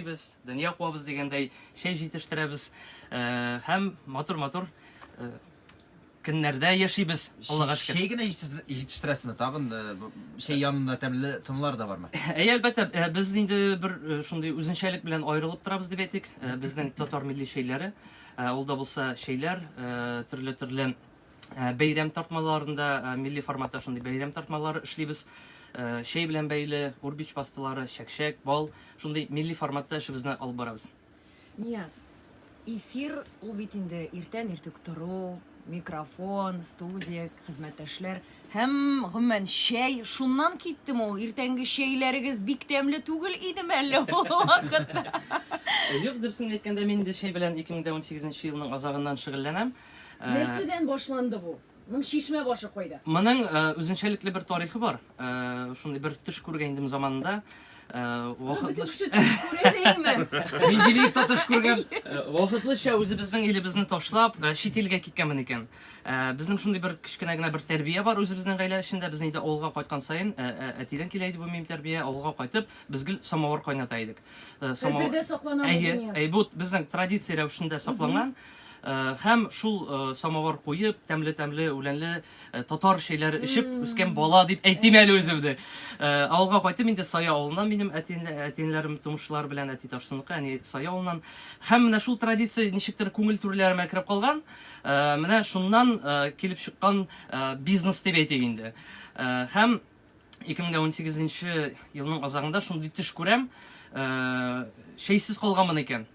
эшлибез, дөнья куабыз дигәндәй, чәй җитештерәбез һәм матур-матур көннәрдә яшибез, Аллага шөкер. Чәй генә җитештерәсезме? Тагын э, чәй янында тәмле тынлар да бармы? Әй, әлбәттә, э, без инде бер э, шундый үзенчәлек белән аерылып торабыз дип әйтик. Безнең татар милли чәйләре, ул да булса чәйләр, төрле-төрле Э, бәйрәм тартмаларында э, милли форматта шундый бәйрәм тартмалары эшлибез э, чәй белән бәйле урбич пасталары чәкчәк бал шундый милли форматта эшебезне алып барабыз нияз эфир ул бит инде иртән иртүк тору микрофон студия хезмәттәшләр һәм гомумән чәй шуннан киттем ул иртәнге чәйләрегез бик тәмле түгел идеме әллә ул вакытта юк дөресен әйткәндә мин инде чәй белән 2018 елның азагыннан шөгыльләнәм Э, Нәрсәдән башланды бу? Моның чишмә башы кайда? Моның э, үзенчәлекле бер тарихы бар. Э, шундый бер төш күргән идем заманында. Вакытлы Менделеевта төш күргән. Вакытлыча үзебезнең илебезне ташлап, чит илгә киткәнмен икән. Безнең шундый бер кечкенә генә бер тәрбия бар үзебезнең гаилә эчендә. Без инде авылга кайткан саен әтидән килә иде бу мим тәрбия. Авылга кайтып, без гел самавыр кайната идек. Самавыр. Әйе, әйе, бу безнең традиция рәвешендә сакланган. Һәм шул самовар куеп, тәмле-тәмле, үләнле татар чәйләре эчеп үскән бала дип әйтим әле үземне. Авылга кайтып инде Сая авылыннан минем әтинләрем, тумышлар белән әти Тарсыныкы, әни Сая авылыннан. Һәм менә шул традиция ничектер күңел түрләремә кереп калган. Менә шуннан килеп чыккан бизнес дип әйтик инде. Һәм 2018 елның азагында шундый төш күрәм, чәйсез калганмын икән.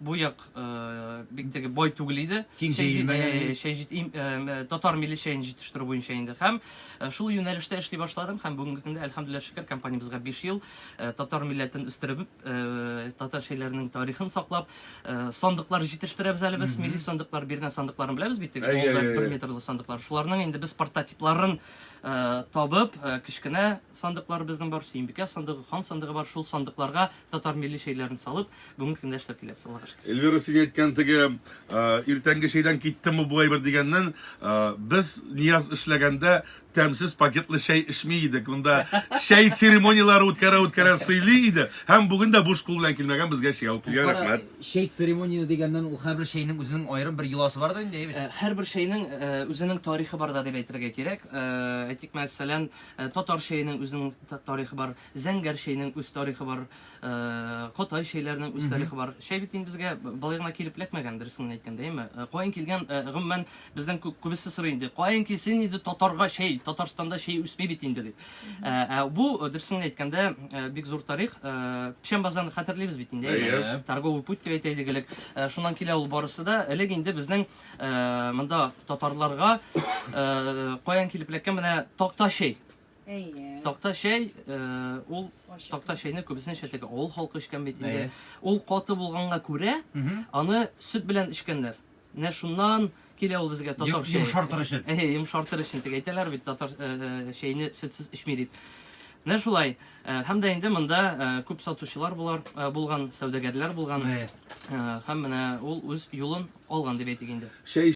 бу як э, бик теге бай түгел иде. Киң Чәй җит- җәелмәгән э, иде. чәй җит- им- э, татар милли чәен җитештерү буенча инде. Һәм э, шул юнәлештә эшли башладым һәм бүгенге көндә әлхәмдүлилләһ шөкер компаниябезгә 5 ел э, татар милләтен үстереп, э, татар чәйләренең тарихын саклап, э, сандыклар җитештерәбез әле без, милли сандыклар, бирнә сандыкларын беләбез бит теге Әйе, алда әйе, бер әйе. метрлы сандыклар. Шуларның инде без прототипларын э, табып, э, кечкенә сандыклар безнең бар, Сөембикә сандыгы, хан сандыгы бар. Шул сандыкларга Татар милли чәйләрен салып, бүгенге көндә эшләп киләбез, Аллага шөкер. Эльвира, син әйткән теге иртәнге чәйдән киттем бу булай бер дигәннән, без Нияз эшләгәндә тәмсез пакетлы чәй эчми идек. Монда чәй церемонияләре үткәрә үткәрә сыйлый иде. Һәм бүген дә буш кул белән килмәгән безгә чәй алып килгән. Рәхмәт. Чәй церемониясе дигәннән ул һәрбер чәйнең үзенең аерым бер йоласы бар да инде, әйбәт. Һәрбер чәйнең үзенең тарихы бар да дип әйтергә кирәк. Әйтик, мәсәлән, татар чәенең үзенең тарихы бар. Зәңгәр чәйнең үз тарихы бар, кытай чәйләренең үз тарихы бар. Чәй бит инде безгә былай гына килеп эләкмәгән, дөресен генә әйткәндә, әйме? Каян килгән, гомумән, бездән күбесе сорый инде, каян килсен инде татарга чәй, Татарстанда чәй үсми бит инде, дип. Ә бу, дөресен генә әйткәндә, бик зур тарих. Печән базарны хәтерлибез бит инде, әйме? Торговый путь дип әйтә идек элек. Шуннан килә ул барысы да. Элек инде безнең монда татарларга каян килеп эләккән менә такта чәй. Әйе. Такта чәй, ул такта чәйне күбесенчә теге авыл халкы эчкән бит инде. Ул каты булганга күрә, аны сөт белән эчкәннәр. Менә шуннан килә ул безгә татар чәе. Йомшартыр өчен. Әйе, йомшартыр өчен дип әйтәләр бит татар чәйне сөтсез эчми дип. Менә шулай. Һәм дә инде монда күп сатучылар булар булган, сәүдәгәрләр булган. Һәм менә ул үз юлын алган дип әйтик инде.